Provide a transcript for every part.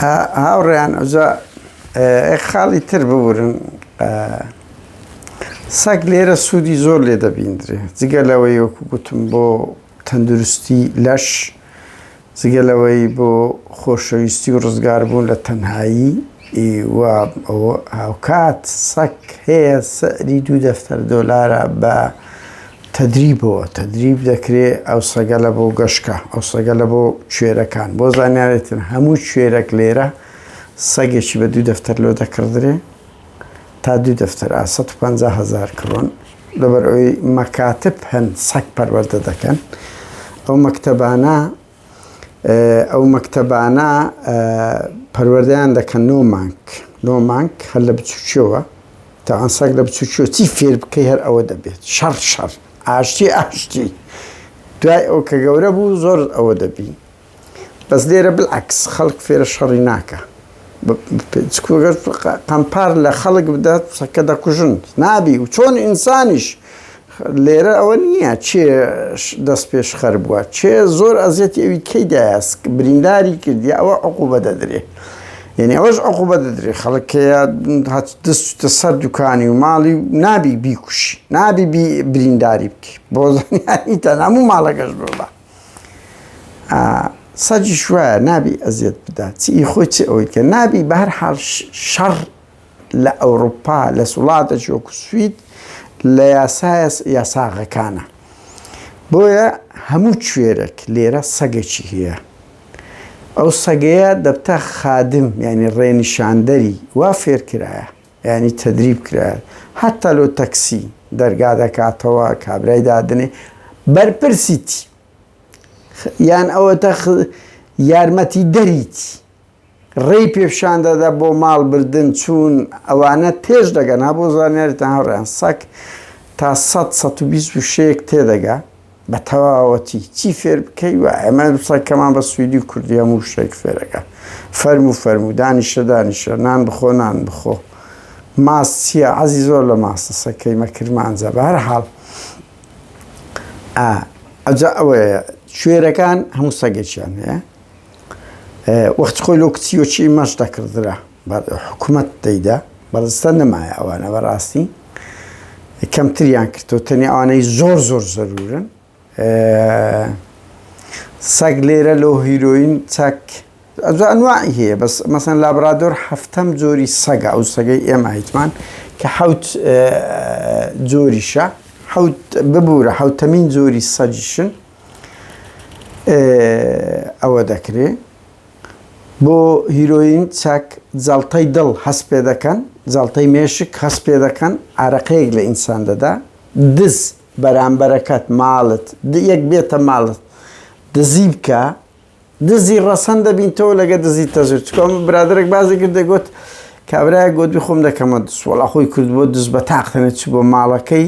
هاوڕێیان ئەجا خاڵی تر ببورن سەگ لێرە سوودی زۆر لێ دەبیندرێ جگە لەوەی وەکو گوتم بۆ تەندروستی لەش جگە لەوەی بۆ خۆشەویستی و ڕزگاربوون لە تەنهایی و هاوکات سەک هەیە سەری دوو دەفتەر دۆلارە بە تەدریبەوە تەدریب دەکرێ ئەو سەگەلە بۆ گەشکە ئەو سەگەلە بۆ کوێرەکان بۆ زانیارێتن هەموو کوێرەک لێرە سەگێکی بە دوو دەفتەر لۆ دەکردرێ تا دوو دەفتەر ئا 150 هزار کڕۆن لەبەر ئەوی مەکاتب هەن سەک پەروەەردە دەکەن ئەو مەکتتەبانە ئەو مەکتەبانە پەروەردەیان دەکەن نۆ مانگ نۆ مانگ هەر لە بچووکیەوە تاوان سەگ لە بچووکیەوە چی فێر بکەی هەر ئەوە دەبێت شەڕ شەڕ ئاشتی ئاشتی دوای ئەو کە گەورە بوو زۆر ئەوە دەبی بەس لێرە بالعکس خەڵک فێرە شەڕی ناکە گەر قەمپار لە خەڵک بدات پسەکە دەکوژن نابی و چۆن ئینسانیش لێرە ئەوە نییە چێ دەست پێش خەر بووە چێ زۆر ئەزیەت ئەوی کەی دایسک برینداری کردی ئەوە عقوبە دەدرێ یعنی ئەوەش عقوبە دەدرێ خەڵکەیە دەستە سەر دوکانی و ماڵی نابی بیکوش نابی برینداری بکە بۆ تەناموو ماڵەکەش ببە ئا سەگیش وایە نابی ئەزیەت بدا چ ئی خۆی چ ئەوی کە نابی بە هەر حاڵ شەڕ لە ئەوروپا لە سوڵاتەکی وەکو سوید لە یاسایە یاساغەکانە بۆیە هەموو کوێرەک لێرە سەگەکی هەیە ئەو سەگەیە دەبتە خادم یعنی ڕێنیشاندەری وا فێرکرایە یانی تەدریب کرایت هەتا لۆ تەکسی دەرگا دەکاتەوە کابرای دادنێ بەرپرسیتی یان ئەوەتە یارمەتی دەریتی ڕێی پێپشاندەدا بۆ ماڵ بردن چوون ئەوانە تێش دەگەنا بۆ زانیاریتان هەڕیان سەک تا 100 126 تێدەگا بە تەواوەتی چی فێر بکەی و ئەمە دوسای کەمان بە سویدی و کوردی هەموو شتێک فێرەکە فەرمو فەرمو دانیشە دانیشە نان بخۆ نان بخۆ ماس چییە عەزی زۆر لە ماسەسە کەیمە کرمانجە بە هەر حاڵ ئەجا ئەوەیە شوێرەکان هەموو سەگێکیان هەیە وەخت خۆی لۆ کچی وەچی مەش دەکردرا بەڵێ حکومەت دەیدا بەڵێ سە نەمایە ئەوانە بەڕاستی کەمتریان کردەوە تەنیا ئەوانەی زۆر زۆر زەرورن سەگ لێرە لۆ هیرۆین چەک ئەنواعی هەیە بەس مەسەن لابرادۆر هەفتەم جۆری سەگە ئەو سەگەی ئێمە هیچمان کە حوت جۆریشە حوت ببوورە حوتەمین جۆری سەجیشن ئەوە دەکرێت بۆ هیرۆین چەک جەڵتەی دڵ هەست پێ دەکەن، جەڵتەی مێشک هەست پێ دەکەن، عارەقەیەک لە ئینسان دەدا، دز، بەرامبەرەکەت، ماڵت، یەک بێتە ماڵت دزی بکا، دزی ڕەسەن دەبینتەوە لەگە دزی تەزویر، چکۆ برادەرێک بازی کرد دەگۆت کابرایەک گۆدوی خۆم دەکەمە دز، وەڵا خۆی کردبوە دز بە تاق تەنێ چبوە ماڵەکەی،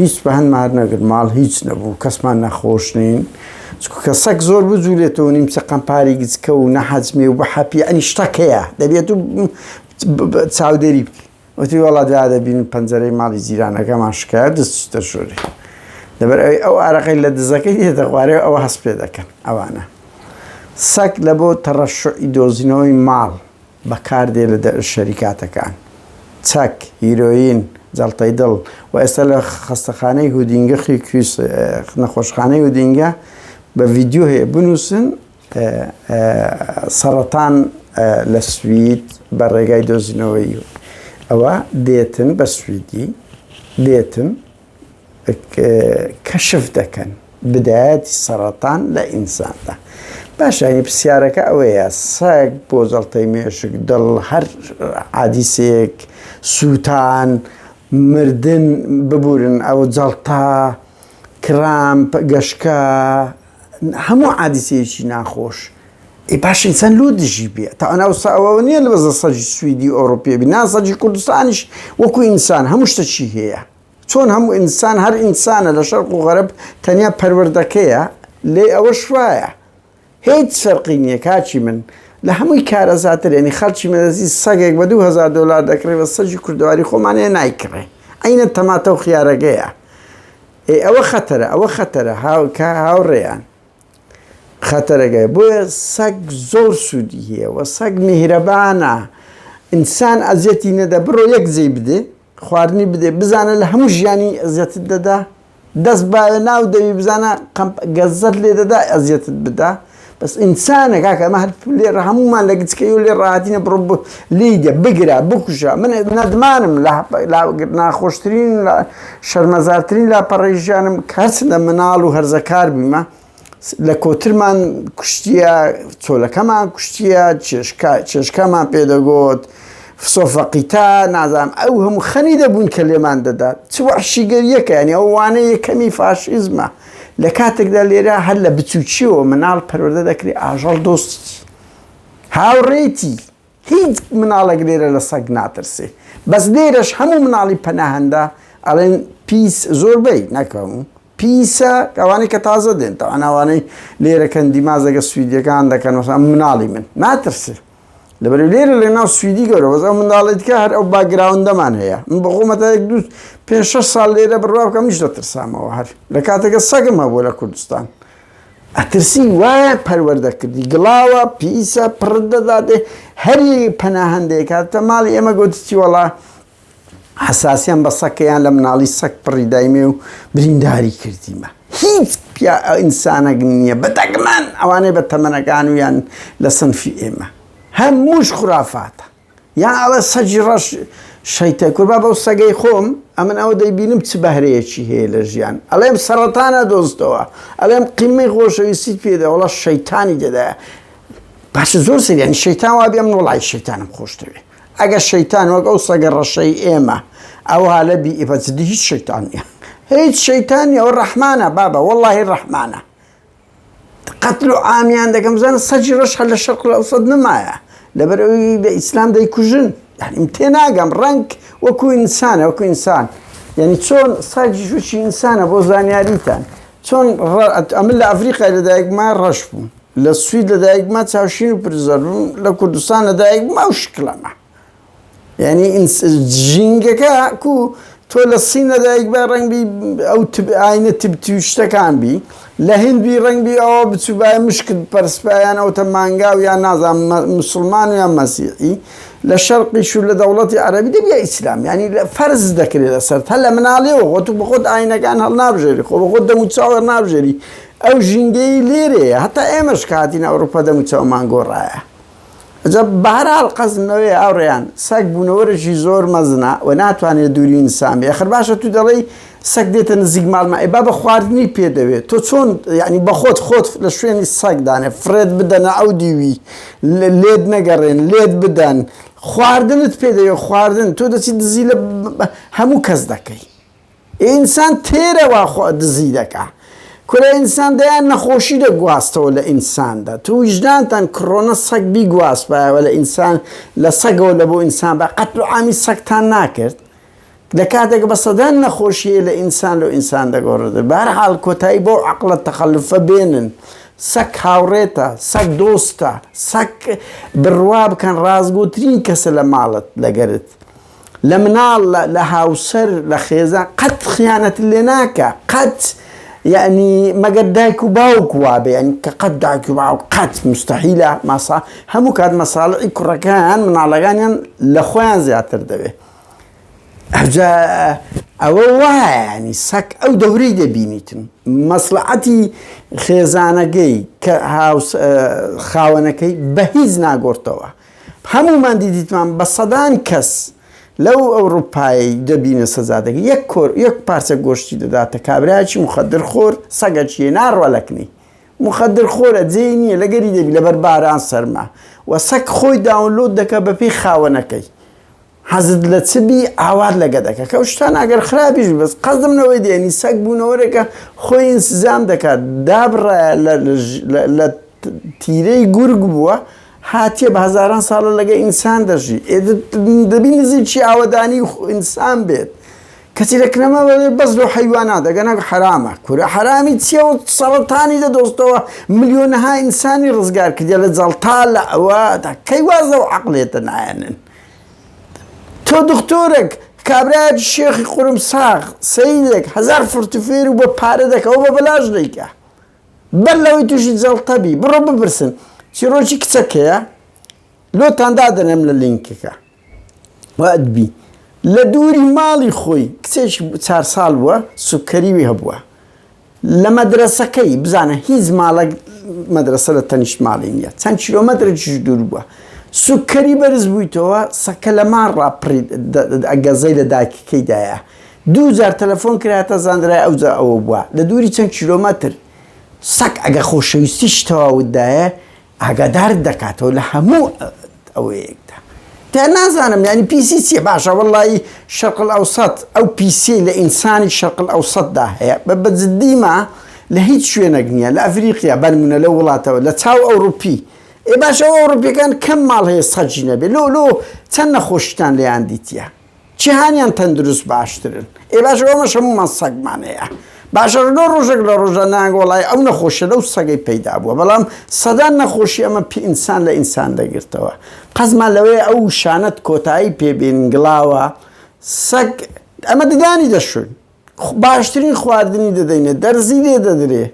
هیچ بە هەنمار نەگر ماڵ هیچ نەبوو کەسمان نەخۆش نین کە سەک زۆر بجوولێتەوە نیم چقەم پاری گچکە و نەحەجمێ و بەحەپی ئەنی شتەکەیە دەبێت و چاودێری بکە وتی وڵا دا دەبین پەنجەرەی ماڵی جیرانەکەمان شکایە دەست دەشۆری لەبەر ئەوی ئەو ئارەقەی لە دزەکەی دێتە خوارێ ئەوە هەست پێ دەکەن ئەوانە سەک لە بۆ تەڕەشعی دۆزینەوەی ماڵ بەکاردێ لە شەریکاتەکان، چەک، هیرۆیین، جەڵتەی دڵ، و ئێستا لە خەستەخانەی هودینگە خی کریس نەخۆشخانەی هودینگە بە ڤیدیۆ هەیە بنووسن سەڕەتان لە سوید بە ڕێگای دۆزینەوەی ئەوە دێتن بە سویدی دێتن کەشف دەکەن بدایەتی سەرەتان لە ئینساندا باشانی پرسیارەکە ئەوەیە سەگ بۆ جەڵتەی مێشک دڵ هەر عادیسێک سووتان مردن ببورن ئەو جەڵتا کرامپ گەشکە هەموو عادیسێکی ناخۆش ئێ باش ئینسان لۆ دژی بێ تا ئەنا وسا ئەوە نیە لە بەزە سەجی سویدی ئۆڕوپیە بی نا سەجی کوردستانیش وەکو ئینسان هەموو شتەکی هەیە چۆن هەموو ئینسان هەر ئینسانە لە شەرق و غەرب تەنیا پەروەردەکەیە لێ ئەوە شوایە هیچ فەرقی نییە کاچی من لە هەمووی کارەزاتر ینی خەڵکی مەدەزی سەگێک بە 2000 دلار دەکڕێ بە سەجی کوردواری خۆمانەیە نایکڕێ ئەینە تەماتە و خیارەگەیە ئەوە خەتەرە ئەوە خەتەرە هاوکە هاوڕێیان خەتەرەگەیە بۆیە سەگ زۆر سوودی هەیە و سەگ میهرەبانە ئینسان ئەزیەتی نەدە بڕۆ یەک جێی بدێ خواردنی بدێ بزانە لە هەموو ژیانی ئەزیەتت دەدا دەست باە ناو دەوی بزانە گەزەت لێ دەدا ئەزیەتت بدا بەس ئینسانە کاکە ئەمە هەر لێ هەمومان لە گچکەی و لێ ڕاتینە بڕۆ لیدە، بگرە، بکوژە، من نەدمانم لە لا ناخۆشترین و لا شەرمەزارترین لاپەڕەی ژیانم کە هەرچەندە مناڵ و هەرزەکار بوویمە لە کۆترمان کوشتیە، چۆلەکەمان کوشتیە، چێشکە چێشکەمان پێ دەگۆت، فسۆ فەقیتە، نازانم ئەو هەموو خەنی دەبووین کە لێمان دەدا، چ وەحشیگەرییەکە، یانی ئەوە وانەی یەکەمی فاشیزمە، لە کاتێکدا لێرە هەر لە بچووکییەوە مناڵ پەروەردە دەکرێ ئاژەڵ دۆستی. هاوڕێیتی هیچ مناڵێک لێرە لە سەگ ناترسێ بەس لێرەش هەموو مناڵی پەناهەندە ئەڵێن پیس زۆربەی نەکەم پیسە ئەوانەی کە تازە دێن تا ئەناوانەی لێرەکەن دیمازەگە سویدەکان دەکەن وەسان مناڵی من ناترسێ لەبەر لێرە لە ناو سویدی گەورە وەزە منداڵێت کە هەر ئەو باگراوندەمان هەیە من بەخۆمەتا یەک دوست پێ ساڵ لێرە بڕوا بکەم میش دەترسامەوە هەر لە کاتێکە سەگم هەبوو لە کوردستان ئەترسی وایە پەروەردە کردی گڵاوە پیسە پڕت دەدات هەری پەناهەندەیەک هاتە ماڵی ئێمە گوتی چی وەڵا حساسیان بە سەکەیان لە مناڵی سەک پڕی دایمێ و برینداری کردیمە هیچ پیا ئینسانەک نییە بە دەگمان ئەوانەی بە تەمەنەکان و یان لە سنفی ئێمە هەمووش خرافاتە یا ئەڵێ سەگی ڕەش شەیتە کوربە بەو سەگەی خۆم ئەمن ئەوە دەیبینم چ بەهرەیەکی هەیە لە ژیان ئەڵێم سەڕەتانە دۆزتەوە ئەڵێم قیمەی خۆشەویستیت پێدە وەڵا شەیتانی تێدایە باشە زۆر سەری یانی شەیتان وا بێم وەڵای شەیتانم خۆشتەوێ ئەگەر شەیتان وەک ئەو سەگە ڕەشەی ئێمە ئەو هالە بی ئیبەجدی هیچ شەیتان نیە هیچ شەیتان نیە ئەو ڕەحمانە بابە وەڵاهی ڕەحمانە قەتل و عامیان دەکەم بزانە سەجی ڕۆژ هەر لە شەرق لەوسەد نمایە لەبەر ئەوی لە ئیسلام دەیکوژن یعنیم تێناگەم ڕنگ وەکو ئینسانە وەکو ئینسان یعنی چۆن ساجی ژوچی ئینسانە بۆ زانیاریتان چۆن ئەمن لە ئەفریقای لەدایکما ڕەش بووم لە سوید لەدایکما چاوشین و پرزەربووم لە کوردستان لەدایکما و شکلەمە یانی ژینگەکە کو تۆ لە سین لە دایک بە ڕنگ بی ئەو ئاینە تبتیشتەکان بی لە هند بی ڕنگ بی ئەوە بچوبای مشکت پەرسپیان ئەو تە مانگاو یان نازان مسلمان و یان مەسیحی لە شەرقیش و لە دەوڵەتی عەربی دەبی ئیسلام ینی لە فەرز دەکرێت لەسەر هە لە مناڵێەوە خۆ تو بخۆت ئاینەکان هەڵ نابژێری خۆ بەخۆت دەمو چاوە نابژێری ئەو ژینگەی لێرەیە هەتا ئێمەش کاتین ئەوروپا دەمو چاومان گۆڕایە جا بەهەرحاڵ قەزم نەوەیە هاوڕێیان، سەگ بوونەوەرێکی زۆر مەزنە و ناتوانێت دووری ئینسان بێت، خەر باشە تو دەڵێی سەگ دێتە نزیک ماڵمان ئەی با بە خواردنی پێ دەوێت تۆ چۆن یانی بەخۆت خۆت لە شوێنی سەگ دانێ فڕێت بدەنە ئەو دیوی لێت نەگەڕێن لێت بدەن خواردنت پێ دەوێت خواردن تۆ دەچی دزی لە هەموو کەس دەکەی. ئینسان تێرە وا خۆ دزی دەکا. کورە ئینسان دەیان نەخۆشی دەگواستەوە لە ئینساندا تو ویژدانتان کڕۆنە سەگ بیگواستبایەوە لە ئینسان لە سەگەوە لە بۆ ئینسان بە قەتلو عامی سەگتان ناکرد لە کاتێک بە سەدان نەخۆشی هەیە لە ئینسان لۆ ئینسان دەگۆڕدرێت بە هەر حاڵ کۆتایی بەو عەقڵە تەخەلوفە بێنن سەگ هاوڕێتە سەگ دۆستە سەگ بڕوا بکەن ڕاستگۆترین کەسە لە ماڵت لەگەرت لە مناڵ لە هاوسەر لە خێزان قەت خیانەت لێ ناکا قەت یەعنی مەگەر دایک و باوک وابێ یەعنی کە قەت دایک و باوک قەت مستەحیلە ماسا هەموو کات مەساڵحی کوڕەکان مناڵەکانیان لە خۆیان زیاتر دەوێ ئەجا ئەوە وایە ینی سەک ئەو دەورەی دەبینیتم مەسلعەتی خێزانەکەی کە خاوەنەکەی بە هیچ ناگۆرتەوە هەموومان دیدیتمان بە سەدان کەس لەو ئەوروپایەی دەبینە سزا دەگری یەک کۆر یەک پارچە گۆشتی دەداتە کابرایەکی مخدر خۆر سەگەکیە ناڕوا لەکنی مخدر خۆرە جێی نییە لەگەری دەبی لەبەر باران سەرما و سەگ خۆی داونلۆد دەکە بەپێی خاوەنەکەی حەزت لە چ بی ئاوات لە گەدەکە کە ئەو شتانە ئەگەر خراپیش بی بەس قەزم لەوەی دێنی سەگ بوونەوەرێکە خۆی ئینسجام دەکات دابڕایە لە لە لە تیرەی گورگ بووە هاتیە بە هەزاران ساڵە لەگە ئینسان دەژی دەبی نزیکی ئاوەدانی ئینسان بێت کەچی لە کنەما بەس لۆ حیوانات دەگەنە حرامە کورە حرامی چیە و سەڵتانی دە دۆستەوە ملیۆنەها ئینسانی ڕزگار کردە لە جەڵتا لە ئەوە کەی وازە و عقلێتە نایەنن تۆ دختۆرێک کابرایەکی شێخی قورم ساغ سەیدێک هەزار فڕت فێر و بە پارە دەکا و بە بەلاش دەیکا بەر لەوەی تووشی جەڵتە بی بڕۆ بپرسن چیرۆکی کچەکەیە لۆتان دادەنێم لە لینکەکە وادبی لە دووری ماڵی خۆی کچێکی چار ساڵ بووە سوکەریوی هەبووە لە مەدرەسەکەی بزانە هیچ ماڵەک مەدرەسە لە تەنیشت ماڵی نیە چەند کیلۆمەترێکیش دوور بووە سوککەری بەرز بوویتەوە سەکە لە ماڕ ڕاپڕی گەزەی لە دایکەکەی دایە دوو جار تەلەفۆن کراتە زانرای ئەوجا ئەوە بووە لە دووری چەند کیلۆمەتر سەک ئەگە خۆشەویستی شتەواوتدایە ئاگادارت دەکاتەوە لە هەموو ئەوەیەکدا. تە نازانم یانی پیسی چیە باشە وەڵایی شەرق الاوسەت ئەو پیسیەی لە ئینسانی شەرق الاوسەت دا هەیە بە بە جدی ما لە هیچ شوێنەک نیە لە ئەفریقیا بە نمونە لەو وڵاتەوە لە چاو ئەوروپی ئێ باشە ئەو ئەوروپیەکان کەم ماڵ هەیە سەگی نەبێ لۆ لۆ چەند نەخۆشیتان لێیان دیتیە جیهانیان تەندروست باشترن ئێ باشە ئێمەش هەموومان سەگمان هەیە باشە ڕۆ ڕۆژێک لە ڕۆژە نایەن وەڵای ئەو نەخۆشیە لەو سەگەی پەیدا بووە بەڵام سەدان نەخۆشی ئەمە پێ ئینسان لە ئینسان دەگرتەوە قەزمان لەوەیە ئەو شانەت کۆتایی پێبێن گڵاوە سەگ ئەمە ددانی دەشوین باشترین خواردنی دەدەینێ دەرزی لێ دەدرێ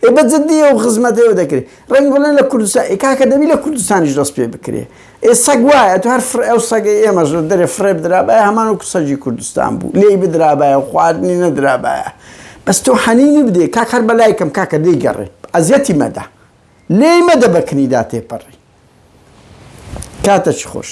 ئێ بە جدی ئەو خزمەتە ئێوە دەکرێ ڕەنگە بڵێن لە کوردستان ئێ کاکە دەبی لە کوردستانیش دەست پێ بکرێ ئێ سەگ وایە تو هەر فرە ئەو سەگەی ئێمەش لە دەرێ فرێ بدرابایە هەمان وەکو سەگی کوردستان بوو لێی بدرابایە و خواردنی نەدرابایە بەس تۆ حەنینی بدێ کاک هەر بە لایکم کاکە لێی گەڕێ ئەزیەتی مەدە لێی مەدە بە کنیدا تێپەڕی کاتەچ خۆش.